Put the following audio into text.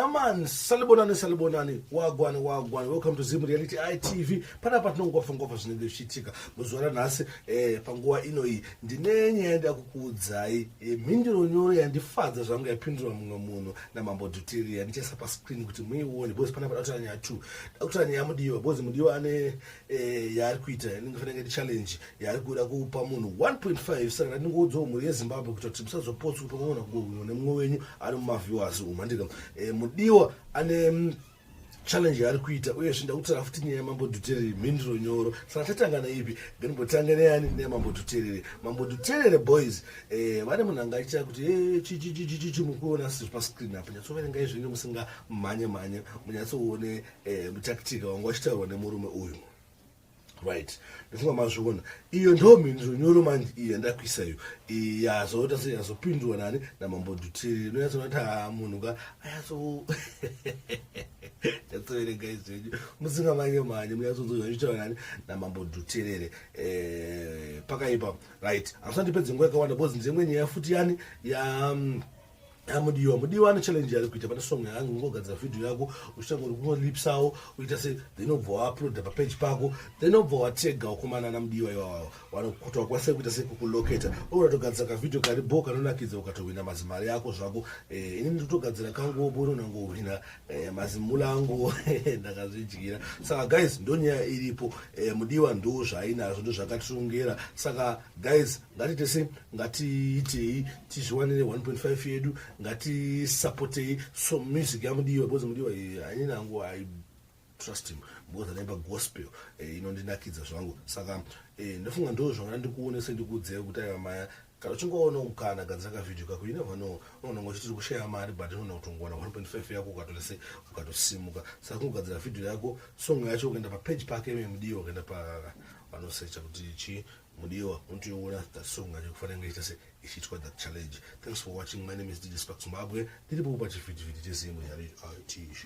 man salibonani salibonani wagwani wagwani welcome to zim reality itv panapa tinongofa ngofa zvinenge zvichiitika muzuva ranhasi eh, panguva ino iyi ndine nyaya yandakukuudzai E, mhinduro nyoro yandifadza zvangu yapindurwa mumwe munhu namambo dutiria ndichaisa pascreen kuti muione bcoz pana pada kutora nyaya two dakutora nyaya mudiwa bcoz mudiwa ane e, yaari kuita ndingafanira ngaiti challenge yaari kuda kupa munhu 1.5 saka ndandingoudzawo mhuri yezimbabwe kuita kuti musazopotswa pamwe munhu akungohwiwa nemumwe wenyu ari mumaviewers umu andika e, mudiwa ane challenge yaari kuita uyezve ndakutara futi nyaya yamambo dhuterere mhinduro nyoro saka tatanga neipi ngenimbotanga neyani neyamambo dhuterere mambo dhuterere boys eh, vane munhu anga achitaa kuti eh, chichichichichichi mukuona siri pascreen apo nyatsoverengai zvinge musingamhanye mhanye munyatsoone eh, mutaktika wanga wachitaurwa nemurume uyu right ndofunga mazviona iyo ndo mhinduro nyoro manje iyo yandakuisa iyo yazoita se yazopindurwa nani namambo dutiri inoyatsoona kuti haa ah, munhu ka ayatso yatsoverenga izvenyu musinga mange mhanye muyatsonzozva ichitaura nani namambo duterere eh, pakaipa right hamusandipedze nguva yakawanda because ndiyemwe nyaya futi yani ya mm, amudiwa mudiwa ane challenge ari kuita pane song yangu ungogadzira vhidhiyo yako uchitanga uri kungolipsawo uita se then obva wauploada papeji pako then obva watega wakomana ana mudiwa iwawawo wanokuta wakwanisa kuita sekukuloketa oratogadzira kavhidhiyo kari bo kanonakidza ukatohwina mazimari yako zvako eh, ini ndotogadzira kangu obo unonangohwina eh, mazimula angu ndakazvidyira saka guys ndonyaya iripo eh, mudiwa ndo zvainazvo ndo zvakatirongera saka guys ngati tese ngatiitei tizviwanire 1.5 yedu ngatisapotei so music yamudiwa because mudiwa eh, hainini angu i trust him because anaimba gospel eh, inondinakidza zvangu saka eh, ndofunga ndo zvangana ndikuonese ndikuudzei kuti aiva maya kana uchingoona mukana gadzira kavhidhio kako you never know unonanga uchitiri kushaya mari but unoona kuti ungowana 1.5 yako ukatose ukatosimuka saka kungogadzira vhidhio yako song yacho ukaenda papeji pake memudiwa ukaenda pa vanosecha kuti chii mudiwa unotoiona that song acho kufanira kunge ichita se ichiitwa that challenge thanks for watching my name is dj spark zimbabwe ndiripo kupa chivhitivhiti chezimwe yari itv